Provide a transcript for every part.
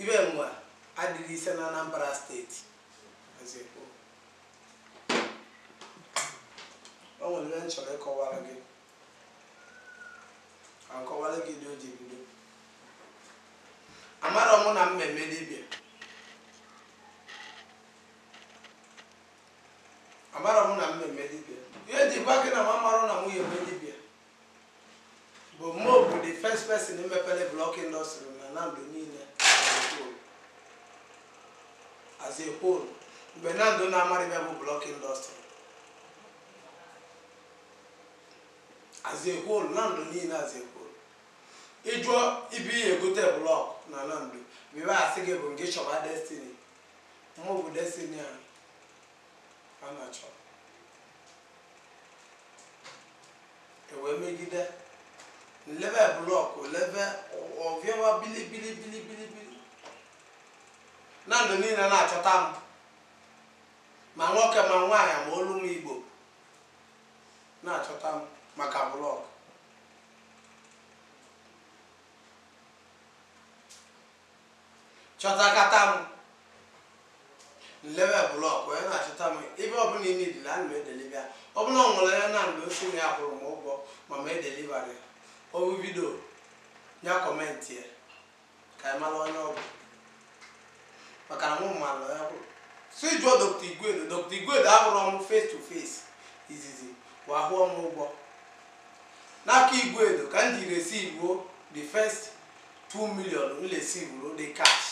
Ibe nwa adịghị ise na Anambra steeti ozekwu o nwere ihe m chọrọ ịkọwara gị ka m kọwara gị ụdị o ji bido amarọ mụ na m ya-eme dibịa amarọ mụ na m ya-eme dibịa ihe m ji gwa gị na m amarọ na mụ ya-eme dibịa bụ mụ bụ the first person mepere blọk indọstrị na Nando niile as a whole mgbe Nando na-amarọ ihe bụ blọk indọstrị as a whole Nando niile as a whole ị jụọ ebe ị ya-egote blọk na Nando ihe a sị gị bụ gị chọba Destiny mụ bụ Destiny ahụ a na-achọ e wee megide m lebe blọk lebe ọvịawa bilibili bilibili bili Nando niile na-achọta m ma nwoke ma nwaanyị ma olu ma Igbo na-achọta m maka blọk chọtakata m m lebe blọk onye na-achọta m ebe ọbụla ị nidiri ya ana m edeliva ya ọ bụrụ na o nwere onye Nando sị na ya kwụrụ m ụgwọ ma m edelivarọ ya ọ hụ vidio a kọmentịa ka anyị mara onye ọ bụ maka na mụ amarọ onye ọ bụ si jụọ dọkta Igwedo dọkta Igwedo ahụrụ m face to face izizi wa kwụọ m ụgwọ n'aka Igwedo ka m ji resivuo the first 2 million m resivuru the cash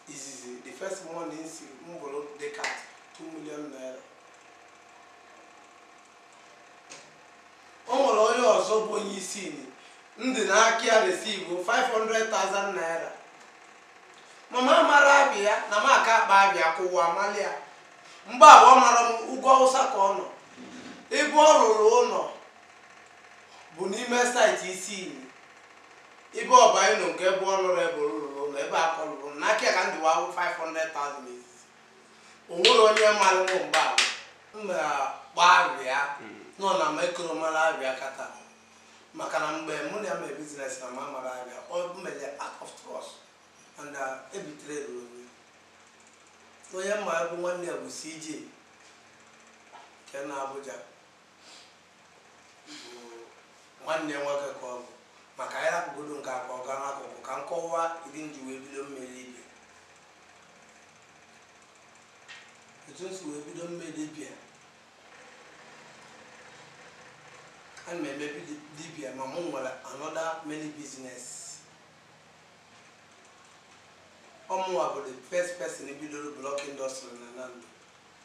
izizi the first money m sị m buru the cash 2 million naira o nwere onye ọzọ bụ onye Isinyi ndị n'aka ya resivu 500,000 naira ma m amarọ ava ya na m aka akpọ ava ya kụwa amalị ya mgbe ahụ ọ mara na ugwu Awụsa ka ọ nọ ebe ọ rụrụ ụlọ bụ n'ime saịtị Isinyi ebe ọba ịnụ nke ebe ọ lụrụ ebe lụrụ ụlọ ebe a ka ọ lụrụ n'aka ya ka ndị wawụ 500,000 izizi o nwere onye mara mụ mgbe ahụ m mara kpọọ ava ya nọ na m ekoro mara ava ya kịta maka na mgbe mụ na ya mere biznes na m amarọ ava ya ọ mere act of trust and uh, ebitere ruru onye onye mma bụ nwanne ya bụ CJ nke na Abuja nwanne nwoke ka ọ bụ ma ka anyị rapụgodo nke a ka ọ gaa n'akụkụ ka m kọwaa ụdị m ji wee bido mme dibia etu m si wee bido mme dibia ana m eme bidi- dibia ma mụ nwere another many business ọ mụnwa bụ the first person bidoro block industry na nando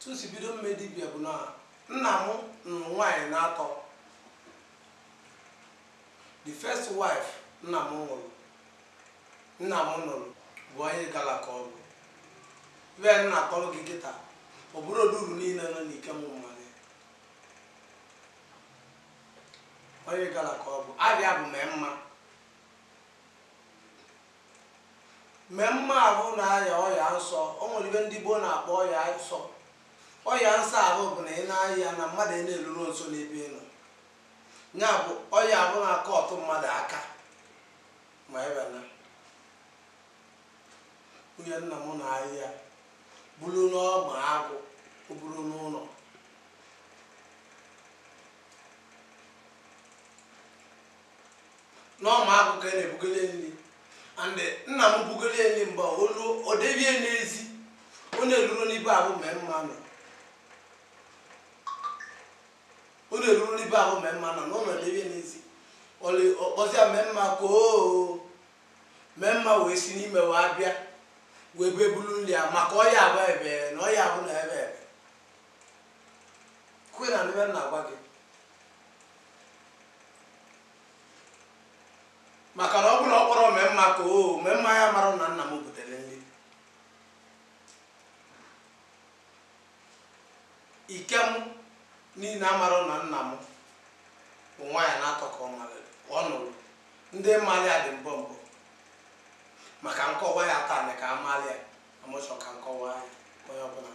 tu si bido mme dibia bụ na nna m nụrụ nwaanyị naatọ the first wife nna m nwụrụ nna m nụrụ bụ onye igala ka ọ bụ ive m na-akọrọ gị kịta ọ bụrụ oduru niile nọ n'ikem malụ onye igala ka ọ bụ ava ya bụ memma Memma avụ na-aya ọya nsọ, o nwere ive ndị gboo na-akpọ ọya nsọ. Ọya nsọ avụ bụ na ị na-aya ya na mmadụ na-eruro nso n'ebe ị nọ. Ya bụ ọya avụ na-akọ ọtụ mmadụ aka ma ebe na nwunye nna m na-aya ya buru n'ọma agụ o buro n'ụlọ n'ọma agụ ka a na-ebugoli ya nri and nna m bugoli ya nri mgbe a, o ruo o debie ya n'ezi ọ na-eruro n'ibe avụ memma nọ ọ na-eruro n'ibe avụ memma nọ na ụlọ debie ya n'ezi Ọlị- ọ kpọzi ya memma ka oo memma wee si n'ime wee bịa wee bee bulu nri a maka ọya avụ ebe na ọya avụ na-eve eve kwe na n'ive m na-agwa gị maka na ọ bụrụ na ọ kpọrọ memma ka o memma ya mara na nna m butere nri ikem niile amara na nna m bụ nwaanyị naatọ ka ọ nụrụ ndị malụ ya dị mbọ mbọ ma ka m kọwaa ya taa na ka a malị ya a mụ chọ ka m kọwaa ya onye ọbụla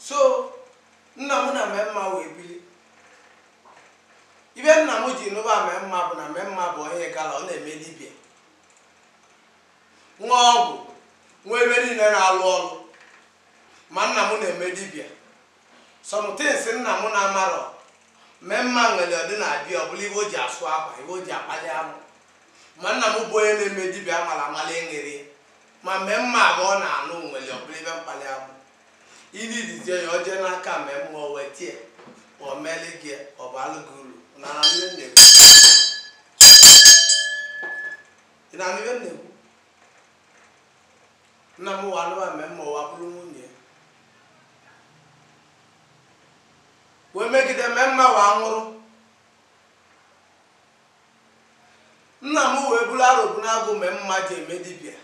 so nna m na memma wee bili ive nna m ji nụba memma bụ na memma bụ onye igala ọ na-eme dibịa nwee ọgwụ nwee ive niile na-alụ ọrụ ma nna m na-eme dibịa some things nna m na-amarọ memma nwere ọdị na-abịa ọ bụla ive o ji asụ akwa ive o ji akpali anụ ma nna m bụ onye na-eme dibịa a mala amala eṅere ya ma mee mma ahụ ọ na-anụ nwere ọbụla ibe mkpali abụ ili lizie ya ọ jee n'aka mee mma o wee tie ma ọ meele gị ya, ọ bụ alụ gị uru na na nne m na-ekwu ị na-anụ ihe m na-ekwu nna m wa anụwa mee mma ụwa bụrụ nwunye wee megide mee mma wa nwụrụ nna m wee buru Arobunagu mee mma ji eme dibịa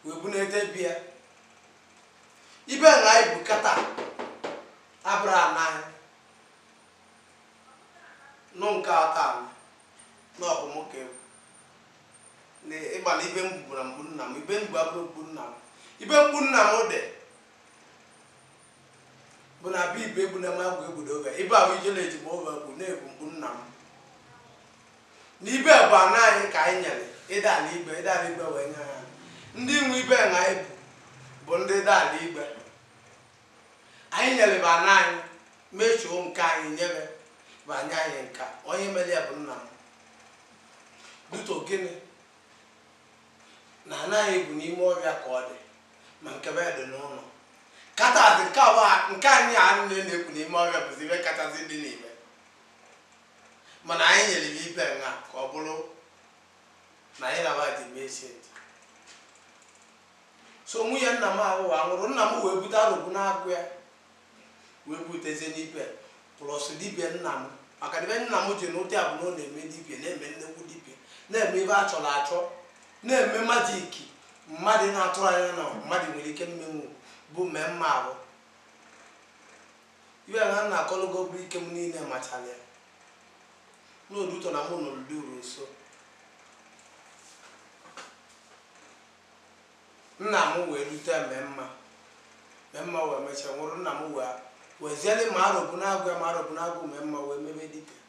wee bụ na-ete bịa ibe na ibu kata abụrụ anaghị nụ nke ata na ọ bụ m ka ebu na ịgba na ibe mgbu na mgbu nna m ibe mgbu abụrụ mgbu nna m ibe mgbu nna m dị bụ na abụ ibe egbu na ma agwụ egbudo oge ibe ahụ ije na-eji ma oge bụ na-egbu mgbu nna m na ibe bụ ana anyị ka anyị nyere ịda ala igbe ịda ala igbe wee nye ha ndị nwe ibe na ibu bụ ndị ịda ala igbe anyị nyere bụ ana anyị mechuo nke anyị nyere bụ ana anyị nka onye mere ya bụ nna m bute gịnị na anaghị egwu n'ime ọhịa ka ọ dị ma nke be dị n'ụnọ kachasị nke anyị a na-ekwu n'ime ọhịa bụzi ibe kachasị dị n'ime mana anyị nyere ya ibe nha ka ọ bụrụ na anyị na-aba dị mee shedi so nwunye nna m ahụ wee nwụrụ nna m wee bute Arobunagu ya wee butezie ibe a plus dibịa nna m maka na ibe nna m ji n'ụdị a bụ na ọ na-eme dibịa na-eme nnekwu dibịa na-eme ibe a chọrọ achọ na-eme majiki mmadụ na-atụrọ anya na mmadụ nwere ike imenwu bụ mee mma ahụ ibe m na-akọlụgo bụ ike m niile machara ya n'odu ụtọ na mụ nụrụ dị uru nso Nna m wee nụta mee mma mee mma wee mechaa nwụrụ nna m wee weziele ma Arobunagu ya ma Arobunagu mee mma wee mebe dibịa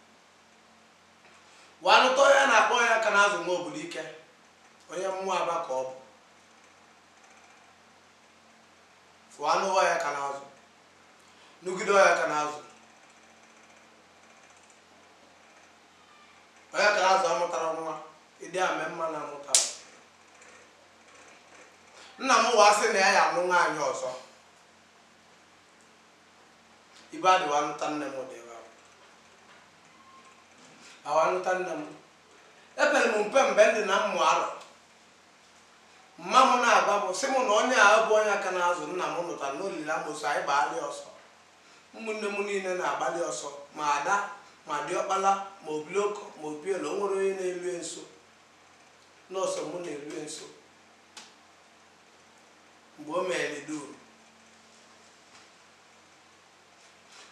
wee nụta onye a na-akpọ ọya ka na-azụ nwa obulu ike onye mmụọ aba ka ọ bụ fụọ anụwa ọya ka na-azụ nụgide ọya ka na-azụ ọya ka na-azụ amụtarọ nwa Dị ka mee mma na-amụtarọ. Nna m wee sị na ya ya-anụ nwaanyị ọzọ. Ibe e ji wa anụta nne m dị ebe ahụ. Awa anụta nne m. Epere m mpe mgbe m dị na mmụ arọ. Mama m na-agwabu sị m na onye a bụ ọya ka na-azụ nna m nụtara na o lili amosu anyị gbaala ya ọsọ. Ụmụnne m niile na-agbalị ọsọ, ma ada, ma diọkpala, ma obiloko, ma obele, o nwerọ onye na-elue nso. Nọọ sọ mụ na-elue nso mgbe o mere liduru.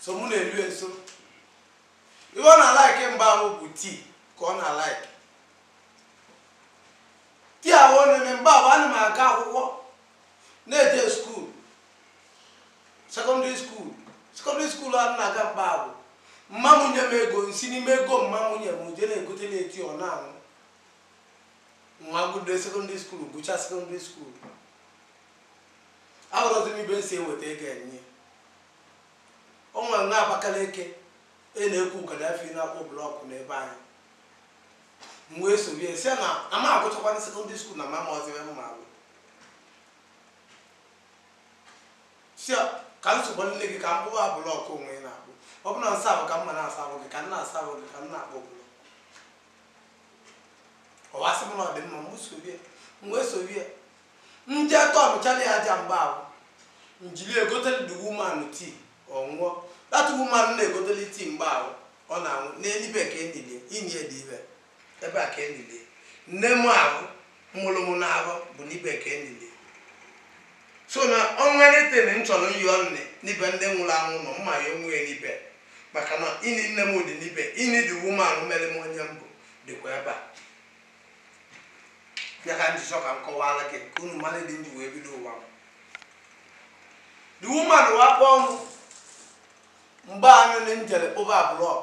Sọ mụ na-elue nso. Ihe ọ na-alaiki mgbe ahụ bụ tii ka ọ na-alaiki. Tii ahụ ọ na-eme mgbe ahụ ana m aga akwụkwọ na-eje skuul sekọndịrị skuul sekọndịrị skuul a na-aga mgbe ahụ mma m nye m ego m si n'ime ego mma m nye m m je na-egotela e tii ọ na-aṅụ m wa gụde sekọndịrị skuul gụchaa sekọndịrị skuul ahụrọzi m ibe m si eweta ego enye o nwere nwa Abakaliki a na-ekwu Gaddafi na-akpụ blọkụ n'ebe anyị m wee sorie sị ya na ama agụchakwana sekọndịrị skuul na m amarọzi ebe m ma agụ sị ya ka m sobanụ gị ka m kpụwa blọkụ onwe ị na-akpụ ọ bụrụ na nsavụ ka m ma na-asavụ gị ka m na-asavụ gị ka m na-akpụ blọkụ ọ wa sị m na ọ dị mma m soro ya m wee soro ya m je tọnụchala ya aja mgbe ahụ m jiri egotele the woman tii ọ ṅụọ that woman m na-egotele tii mgbe ahụ ọ na-aṅụ nee n'ibe ka e nili e ini e dị ibe Ebe a ka e nili nne mụ ahụ mụrụ mụ n'afọ bụ n'ibe ka e nili so na o nwere anything m chọrọ ịyọ nne n'ibe ndị nwụrụ anwụ nọ m ma ayọnwu ya n'ibe maka na ini nne m dị n'ibe ini the woman mere m onye m bụ dịkwa ebe a ya ka m ji chọọ ka m kọwara gị ka unu mara ụdị m ji wee bido ụwa m the woman wa kpọ m mgbe anyị jere kpụba blọk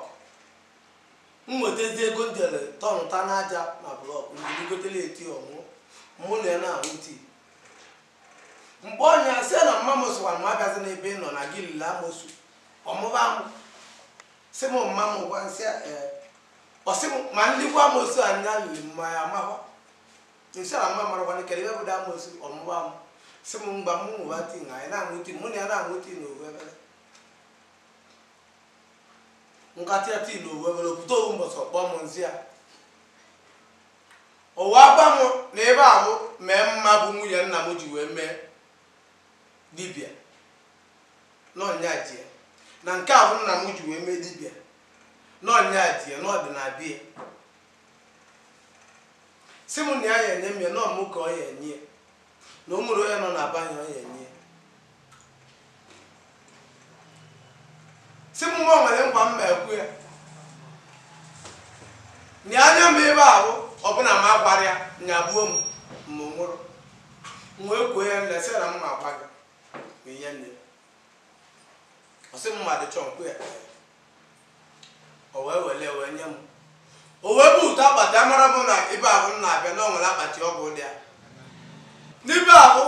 m nwetazi ego m jere tọnụta n'aja na blọk m jiri gotele e tii ọ ṅụ mụ na ya na-aṅụ tii m gwa ya sị na mma m sịkwa m agazina ebe ị nọ na gị lili amosu ọ mụba amụ sị m mma m gwa m sị ee ọ sị m ma m likwa amosu a nya lili m ma ya amakwa m sị na m amarọkwa na kere ebe bụ da amosu ọ mụba amụ sị m ngwa m ṅụba tii na anyị na-aṅụ tii mụ na ya na-aṅụ tii na ofu ebele ṅụkatịa tii na ofu ebele ọ pụta ofu mbọsị ọ kpọ m m za ya ọ wa agwa m na ebe ahụ mee mma bụ nwunye nna m ji wee mee dibịa na ọ nya ji ya na nke ahụ nna m ji wee mee dibịa na ọ nya ji ya na ọ dị na be ya sị m na ya ya enye m ya na ọ mụ ka ọ ya enye ya na o nwerọ onye nọ na be anyị ọ ya enye sị m nwa m kwere nkwa m ma ekwu ya na anya m ebe ahụ ọbụna m agwara ya nya gbuo m ma ọ nụrụ m wee kwuo ya nne sị na m ma agwa gị ma ihe nne ọ sị m mmadụ chọọ okwu ya o wee wele wee nye m o wee bute akpati amara m na ibe ahụ m na-abịa na o nwere akpati ọgwụ dị ya n'ibe ahụ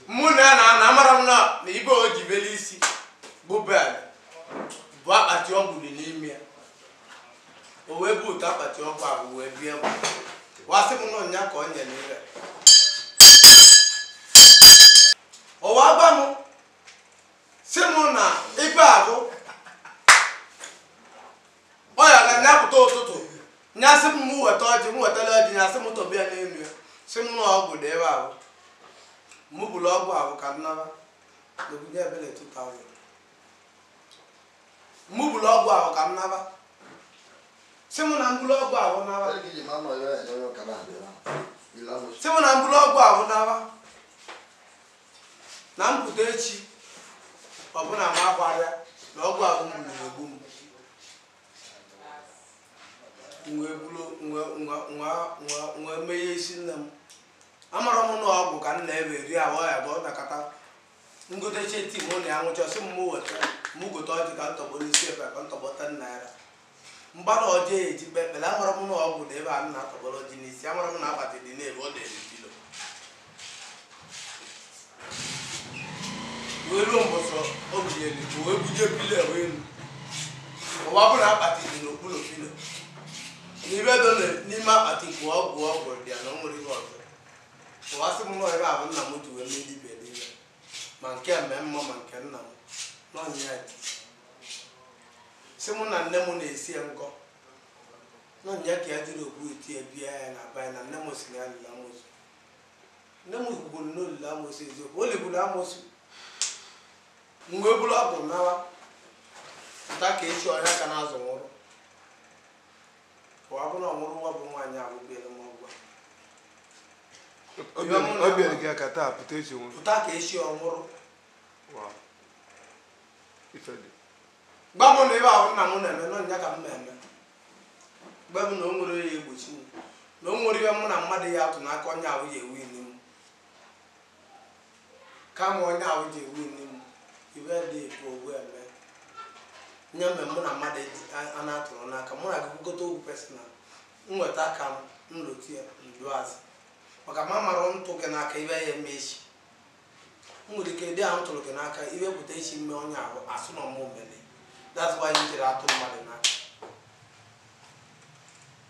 mụ na ya na-anọ amara m na na ibe o ji bele isi bụ bed bụ akpati ọgwụ dị n'ime ya o wee bute akpati ọgwụ ahụ wee bie m wee sị m na ọ nya ka ọ nyere ire o wee gwa m si m na ibe ahụ ọ ya na nya pụta ụtụtụ nya sị m m weta ọjị m wetara ọjị nya sị m tọbe ya n'elu ya sị m na ọgwụ dị ebe ahụ m buru ọgwụ ahụ ka m naba n'obodo ebele 2000 mụ buru ọgwụ ahụ ka m naba si mụ na m buru ọgwụ ahụ naba Onye ka iji ma nọ ya enye onye ụka na-adị ya. Ile anụ si mụ na m buru ọgwụ ahụ naba na m pụta echi ọ bụ na m agwarịa na ọgwụ ahụ m gburu egbu m wee meghe isi nne m amara m na ọgwụ ka m na-ebe eri ahụ ya bụ ọ nakọta m gotecha tii mụ na ya ṅụcha sị mụ weta mụ gote ọjị ka m tọgbọ n'isi ebe ka m tọgbọ ten naira mgbara ọjị eji kpe ekpere amara m na ọgwụ dị ebe a na-atọgbọrọ ọjị n'isi amara m na akpati dị n'ebe ọ na-eri pilo wee ruo mbọsị o binyere ka wee buje pilo ewe elu ọ wa bụ na akpati dị n'okpuru pilo na ibe dị n'ime akpati bụ ọgwụ ọgwụ dị ya na o nwere ihe ọzọ ọ wa sị m na ọ ibe ahụ nna m ji wee mee dibịa niile ma nke nne m ma nke nna m na ọ nya ji sị mụ na nne m na-esi ya nkọ na ọ nya ka ya jiri okwu eti ya bie ya na abanye na nne m si na ya lili amosu nne m kwukwuru na o lili amosu eziokwu o ligburu amosu m wee buru ọgwụ nawa pụta ka echi ọ ya ka na-azụ nwụrụ Ọ bụ na ọ nwụrụ ọ wa bụ nwaanyị ahụ bieere m ọgwụ a. Obi- Obi- obi eri gị aka taa pụta echi nwụrụ Pụta ka echi ọ nwụrụ. Wow. Ife dị. Gwa m na ibe ahụ nna m na-eme na ọ nya ka m na-eme. Gwa m na o nwere ya egbochi m. Na o nwere ihe mụ na mmadụ ya atụ n'aka onye ahụ ya ewini m. kama onye ahụ ji ewini m ibe dị ikwu ogwu eme nye mgbe mụ na mmadụ eji a- a na-atụrụ n'aka mụ na gị kwukọta okwu personal m nweta aka m nlụtu ya ndu azụ maka ma mara m tụ gị n'aka ibe ya eme echi m nwere ike dị ahụ m tụrụ gị n'aka e wee pụta echi m mee onye ahụ asị na ọ mụ mele that's why m jiri atụ mmadụ n'aka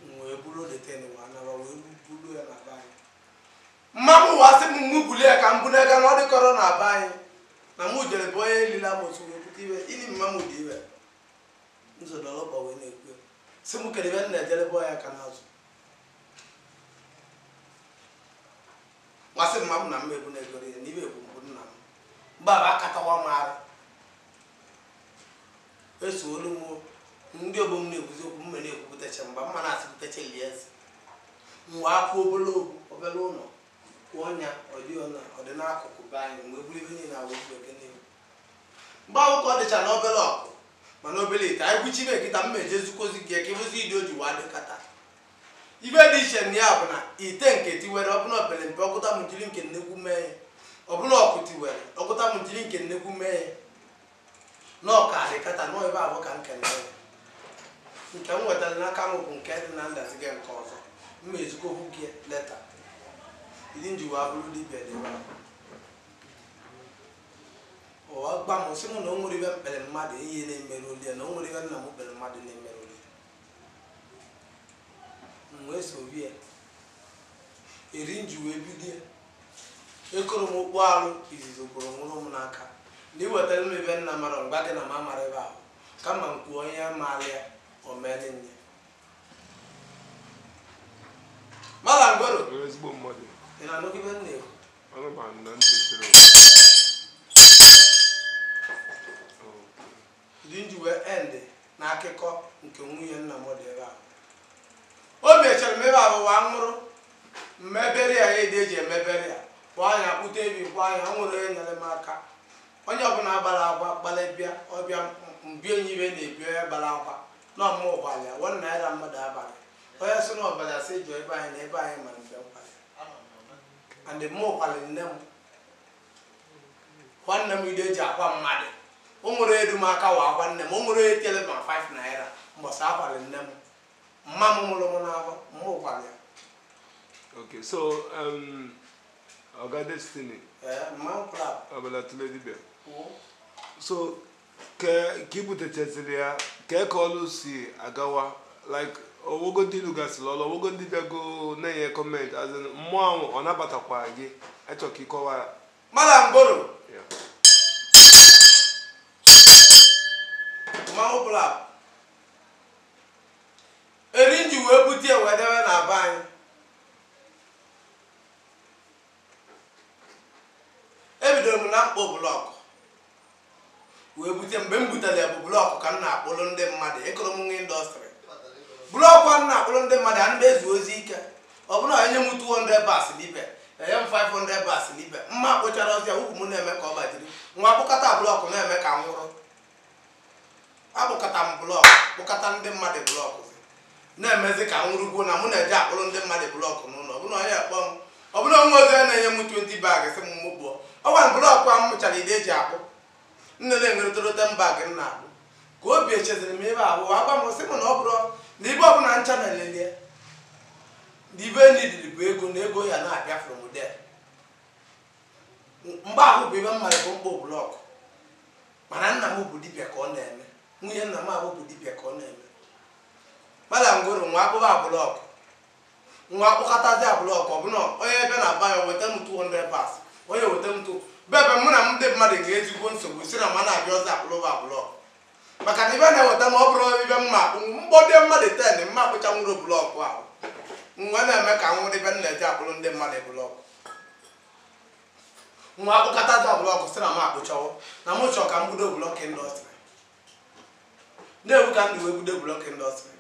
m wee buru that thing wee naba wee buru ya na be anyị mmanwụ wa sị m mụ bulie ya ka m buru ego na ọ dịkọrọ na be anyị na mụ jere bụ onye elile amosu wee pụta iwe ili mma m dị iwe nzodolọba wee na-ekwu ya. sị m kedu ebe m na-ejere bụ ya ka n'azụ masị mma m na m ebu na-egoro ya na iwe ebu mbụ nna m mgbe aba akatawa m arụ Eso olu m ndị ọgbọ m na-ekwuzi okwu m na-ekwupụtacha mgbe m na-asịpụtacha lie nsị mgbe akwụ obere ogwu obere ụlọ kwụọ ọnya ọdị ọna ọdị n'akụkụ be anyị mgbe buru ibe niile awụ ibe gị n'ihu mgbe ahụ ka ọ dịcha na obere ọkụ mana obere ite anyị kwuchi ibe kịta m eje zukozi gị ka ịbụzi ịdị o ji wa dịkọta ibe dị iche na ya bụ na ite nke tiwere ọbụla opere mpe ọkụta m jiri nke nnekwu mee ya ọbụla ọkụ tiwere ọkụta m jiri nke nnekwu mee ya na ọ ka dịkata nọ ebe abụ ka nke nke nke m nwetara n'aka m bụ nke dị na ndaziga nke ọzọ m ezikwa okwu gị leta ndị ji wa bụrụ dibia dị ebe wa gwa m sị m na o nwere ibe mkpere mmadụ ihe na-emere oli ya na o nwere ibe nna m kpere mmadụ na-emere oli m wee sobe ya eri m ji wee bido Ekoro m okpu arụ izizi kworo nwụrụ m n'aka na i wetara m ibe nna mara ngwa gị na m amara ebe ahụ kama m kwuo ihe maara ya o meele nye. Mala ngwero, Onye ezigbo mmadụ. ị na-anụgị ibe m na-ekwu? Ọnụ ma na ntị sịrị. Ndi m ji wee end na akụkọ nke nwunye nna m dị ebe ahụ. O mechara mebe abụ wa nwụrụ m mebere ya ede e ji emebere ya kwaa ya kpụta ebi kwaa ya o nwere onye nyere m aka onye ọbụla gbara aka gbalị bịa ọ bịa mbie nye ibe na-ebi onye gbara aka na ọ mụ gbalị ya one naira mmadụ abalị onye sị na ọ bụ asị jụọ be anyị na be anyị mara mgbe m kwalị and mụ kwalị nne m nwanne m ide e ji akwa mmadụ o nwere edu m aka wa akwa nne m o nwere etele ma 5 naira mbọsị akwara nne m mma m mụrụ m n'afọ mụ kwara ya Okay, so um, Oga Destiny, ee mma m kwara Abala Tule Dibia. kwuo So kee ka i butechaziri ya kee ka ọlụ si agawa like o nwego ndị ị lụgasịrị ọlụ o nwego ndị bịago na-enye comment as in mmụọ ahụ ọ nabatakwa gị achọ ka ị kọwa ya mara mbụrụ Ya. mmanwụ bụla eri m ji wee bute ya wee debe na be anyị ebidoro m na mkpụ block wee bute mgbe m butere ya bụ blọkụ ka m na-akpụrụ ndị mmadụ akpụrọ m n'indọstrị blọkụ ka m na-akpụrụ ndị mmadụ a na-eje ozi ike ọ bụrụ na enye m 200 bas libe enye m 500 bas libe mma kpụchara ozi a ukwu m na-eme ka ọ gbajiri m akpụkata blọkụ na-eme ka m nwụrụ akpụkata m blọk kpụkata ndị mmadụ blọk na-emezi ka m nwụrụgwo na mụ na-eje akpụrụ ndị mmadụ blọk n'ụlọ ọbụna onye akpọ m ọ bụrụ o wee ozi na-enye m 20 bag sị m mụ kpụọ ọgwa blọkụ a m mụchara ụdị e ji akpụ nne na-enweretorote m bag m na-akpụ ka obi echeziri m ebe ahụ agwa m sị m na ọ bụrụ na ibe ọbụla ncha a na-ele ele na ibe ndị ahụ bụ ego na ego ya na-abịa from there mgbe ahụ bụ ibe m maara bụ ịkpụ blọkụ mana nna m bụ dibịa ka ọ na-eme nwunye nna m ahụ bụ dibịa ka ọ na-eme mana ngoro nwa akpụba blọkụ nwa akpụkatazị blọkụ ọbụna onye ebe na aba ya weta m 200 bas onye weta m tụ bebe mụ na ndị mmadụ ga-ezigbo nsogbu si na ma na-abịa ọzọ akpụlụ ba blọkụ maka na ibe na-eweta ma ọ bụrụ ibe mma akpụ blọk ndị mmadụ ten m akpụchanwuru blọkụ ahụ nwa na-eme ka m nwụrụ ibe m na-eji akpụrụ ndị mmadụ blọkụ nwa akpụkatazị blọkụ si na m akpụchawo na mụ chọọ ka m bido blọk indọstrị na-ebu ka mụ wee bido blọk indọstrị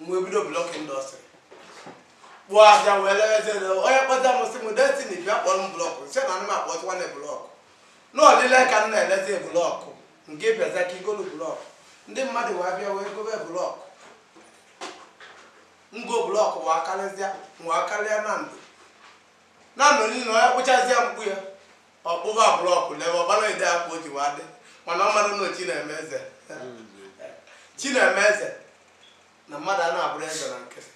m wee bido blọk indọstrị kpụọ a bịa wee lewezie onye kpọta m sị m Destiny bịa kpụọrọ m blọkụ m sị na ana m akpụtụkwanụ blọkụ na olile ka m na-elezi blọkụ nke bịaza ka i golu blọkụ ndị mmadụ wee bịa wee gobe blọkụ ngo blọkụ wee karịzịa wee karịa Nando Nando niile onye kpụchazịa mkpu ya Ọ kpụba blọkụ n'ebe ọgbara ụdị aka o ji wee adị mana ọ mara na chi na-eme eze chi na-eme eze na mmadụ a na-abụrụ eze na nkịtị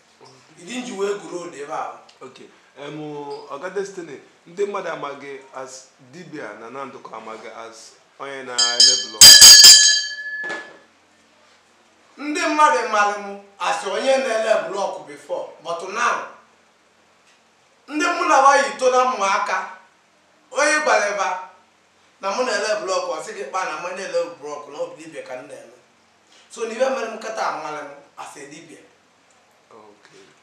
ụdị m ji wee gụrụ ụdị ebe ahụ okay em ọga Destiny ndị mmadụ amaghị as dibia na Nando ka amaghị as onye na-eme blọk ndị mmadụ mara m as onye na-ele blọkụ before but now ndị mụ na wa yi to n'ụmụaka Onye gwara ba na mụ na-ele blọk ọ sị gị kpaa na mụ na-ele blọk na ọ bụ dibịa ka m na-eme so na ibe mere m kata amalị m as a dibịa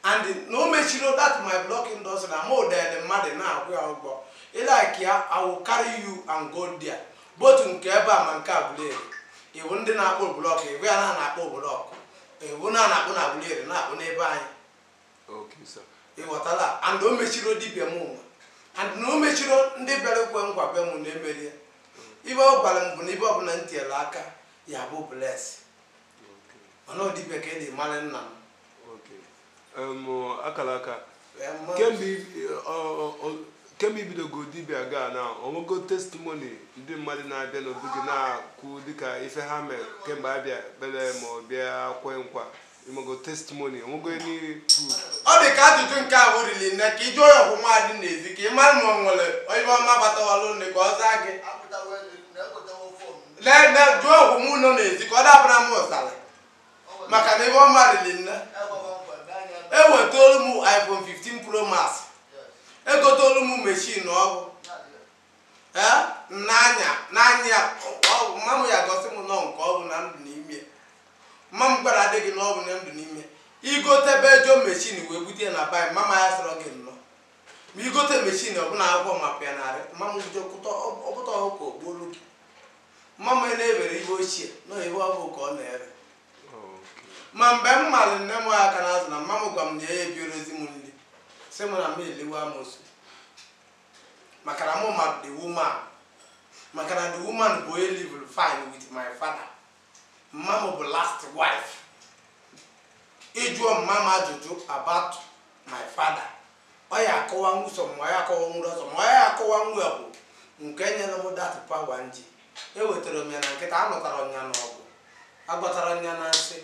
and na o mechirọ that my block industry na mụ dele mmadụ na-akwụ ya ụgwọ ị like ya I will carry you and go there both nke ebe a ma nke Aguleri iwu ndị na-akpụ blọk iwu ya na na-akpụ blọk iwu na na-akpụ na Aguleri na-akpụ n'ebe anyị ịghọtala and o mechiro dibịa mụwa and na o mechiro ndị bịara ekwe nkwa be m na-emeri ya ife ọ gwara m bụ na ife ọbụla m tinyere aka ya-abụ bless mana ọ dibịa ka e ji mara nna m akara aka kemgbe i bidogo dibịa gaa na o nwego testimony ndị mmadụ na-abịa n'obi gị na-akwụ dịka ife ha mere kemgbe abịa bere ma ọ bịa kwe nkwa ịmago testimony o nwego any proof ọ dị ka ajụjụ nke ahụ riri nne ka ị jụ onye ọkwụ mmadụ n'ezi ka ị mara ma ọ nwere onye ọma batawalụ nne ka ọ zaa gị jụọ ọkwụ mụ nọ n'ezi ka ọ dabara m ụsara maka na ife ọma riri nne ewetaolu m iphone 15 pro max egoteolu m meshin ọfụụ ee n'anya n'anya ya mma m ya gosi m nọ nke ọgwụ na ndụ n'ime mma m gwara adịghị n'ọgwụ na ndụ n'ime i gotebe ejọ mechin wee bute ya na be mma m ya sọrọ gị nnọọ ma i gote mechin ọbụla akwụkwọ mapụ ya narị mma m bido kụta ọbụta ọhụ ka ogbolu gị mma m na-ewere ihe ochie na ebe ọ bụ ka ọ na-ere ma mgbe m malụ nne m aka n'azụ na mma m gwa m na ya ebiorozi m nri sị m na m eliwe amosu maka na mụ ma the woman maka na the woman bụ onye livụrụ fine with my father mma m bụ last wife ị jụọ mma m ajụjụ about my father ọ ya akọwa nwụsọ ma ọ ya akọwa nwụrụ ọsọ ma ọ ya akọwa nwa ya bụ nke nyere m that power m ji ewetara m ya na nkịtị anụtarọ m ya n'ọgụ agbatarọ m ya na nsị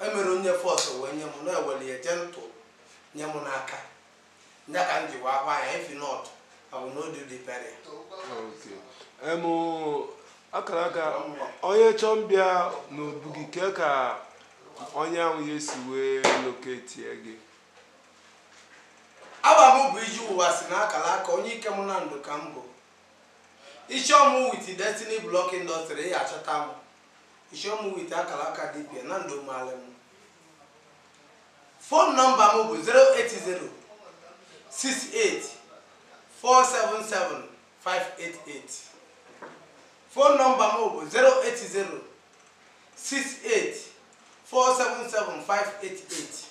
emero onye force wee nye m na e weli ya gentle nye m n'aka Ndị ka m ji wee akwa ya if not ọ bụ n'odu dị peria. Okay. Em, akara aka onye chọọ ịbịa n'obu gị kee ka onye ahụ ya esi wee loketie gị Afa m bụ ije ụwa si n'akara aka onye Ikem Nando ka m bụ. Ị chọọ m with Destiny Block Industry ị ya-achọta m. Ị chọọ m with akara aka dibia Nando maalị m. Fon nọmba m bụ 08068477588 Fon nọmba m bụ 08068477588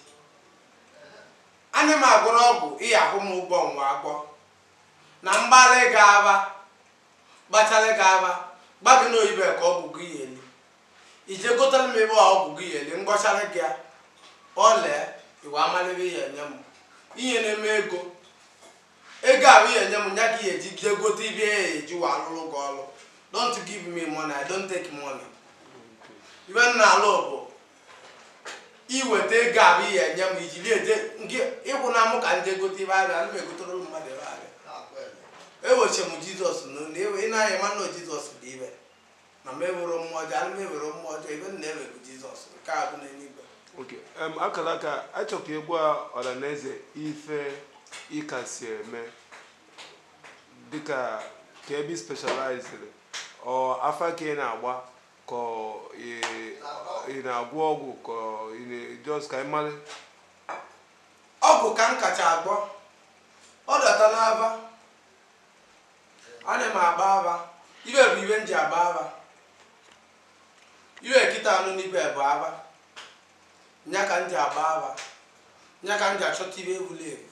Ana m agwọrọ ọgwụ ị ya-akwụ m ụgwọ nwa agbọ na m gbalị gị afa gbachara gị afa gwa gị na ọ ife a ka ọgwụ gị ya eli i jee gotara m ife ọgwụ gị ya eli m gwọchara gị ya ọ lee i wee malụ ife ị ya-enye m ị ya-enye m ego ego ahụ ị ya-enye m nya ka ị ya-eji jee gote ife a ya-eji wee alụrụ gị ọrụ don't give me money i don't take money ife m na-alụ bụ iweta ego abụ ihe enye m iji bịa eje nke ịkwụ na mụ ka ndị egote ibe abịa ana m egotere ụmụ mmadụ ibe abịa eweche m jizọs n'ụlọ ewe ị naghị ma na jizọs bụ ibe na m ewere mmụọ ọjọọ ana m ewere mmụọ ọjọọ ibe m na-ewe bụ jizọs nke a bụ n'eluigwe okay em, Akalaka a chọ ka ị gwa ọhaneze ife ị kasị eme dịka ka ebe ị specialized ọ afa ka ị na-agba ka ị na-agwọ ọgwụ ka ị just ka anyị mara ọgwụ ka m kacha agwọ ọ data n'aba ana m agba aba ibe bụ ibe m ji agba aba ibe kịta anụ n'ibe bụ aba nya ka m ji agba aba nya ka m ji achọta ibe wuru ewu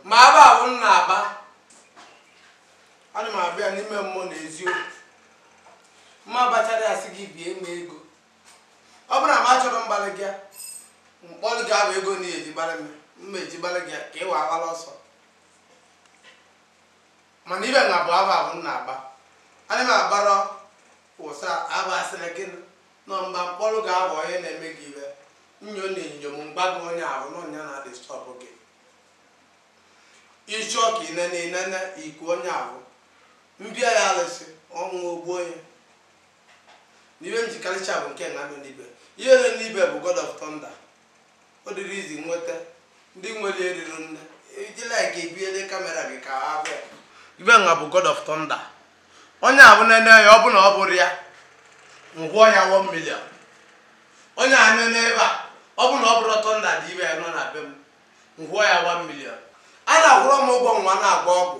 ma aba ahụ m na-agba ana m agba ya n'ime mmụọ na eziokwu m ma agbachara asị gị bie m ego ọ bụrụ na m achọrọ mgbalị gị mkpọrọ gị abụ ego na eji gbalị m mma eji gbalị gị ka ị wa agbala ọsọ mana ibe na bụ aba ahụ m na-agba ana m agbara ụsa aba asịrị gịnị Nọ m gba m kpọrọ gị aba onye na eme gị ibe nyo na enyo m gwa gị onye ahụ na ọ nya na disturb gị. I chọ ka i nene i nene iku onye ahụ. M bia ya alụsị, ọ nwụọ o gbuo ya. Na ibe m ji kalicha bụ nke na nọ n'ibe. Ihe nọ n'ibe bụ God of thunder. ọ dịrị izi nweta ndị nwere eriri nne ijila ka ebiele camera gị ka ha bịa ibe nga bụ god of thunder onye ahụ nene ya ọ bụ na ọ bụrọ ya m kwụọ ya 1 million onye a nene ebe a ọ bụ na ọ bụrọ thunder dị ibe ya nọ na be m m kwụọ ya 1 million a na-akwụrọ m ụgwọ nwa na-agba ọgwụ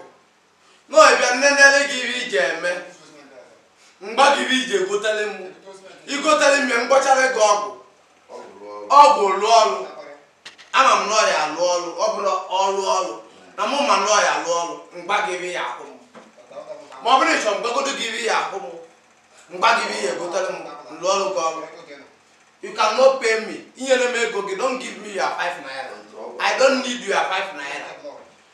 n'ọbịa nnenere gị ibe iji eme m gwa gị ibe iji egotele m i gotele m ya m gwọchara gị ọgwụ ọgwụ lụọ ọrụ ama m na ọ ya-alụ ọrụ ọ bụla ọrụ ọrụ na mụ ma na ọ ya-alụ ọrụ m gwa gị ibe ị ya-akwụ m ma ọ bụrụ ị chọ m gwagodo gị ibe ị ya-akwụ m m gwa gị ibe ị ya-egotele m lụọrọ gị ọrụ you cannot pay me enyele m ego gị don't give me your five naira i don't need your five naira